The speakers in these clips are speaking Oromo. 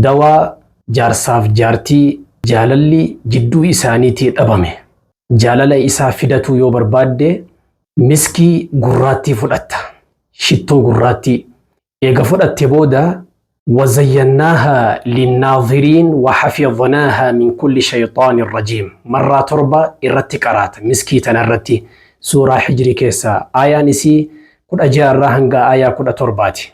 Dawaa jaarsaaf jaartii jaalalli jidduu isaaniitii dhabame jaalala isaa fidatuu yoo barbaadde miskii gurraattii fudhatta, shittoo gurraattii. Eega fudhatte booda Wazayyannaahaa linnaadhiriin wahafidhnaahaa min kulli shayxaanin rajiim marraa torba irratti qaraata miskii tana irratti suuraa hijri keessaa aayaan isii 16 irraa hanga aayaa 17 ti.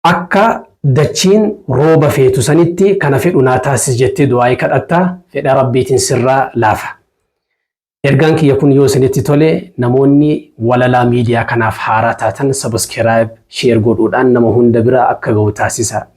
Akka dachiin rooba feetu sanitti kana fedhu naa taasisi jettee du'aa'ii kadhatta, fedha Rabbiitiin sirraa laafa. Ergaan kiyya kun yoo isinitti tole namoonni walalaa miidiyaa kanaaf haaraa taatan subscribe, share godhuudhaan nama hunda bira akka gahu taasisa.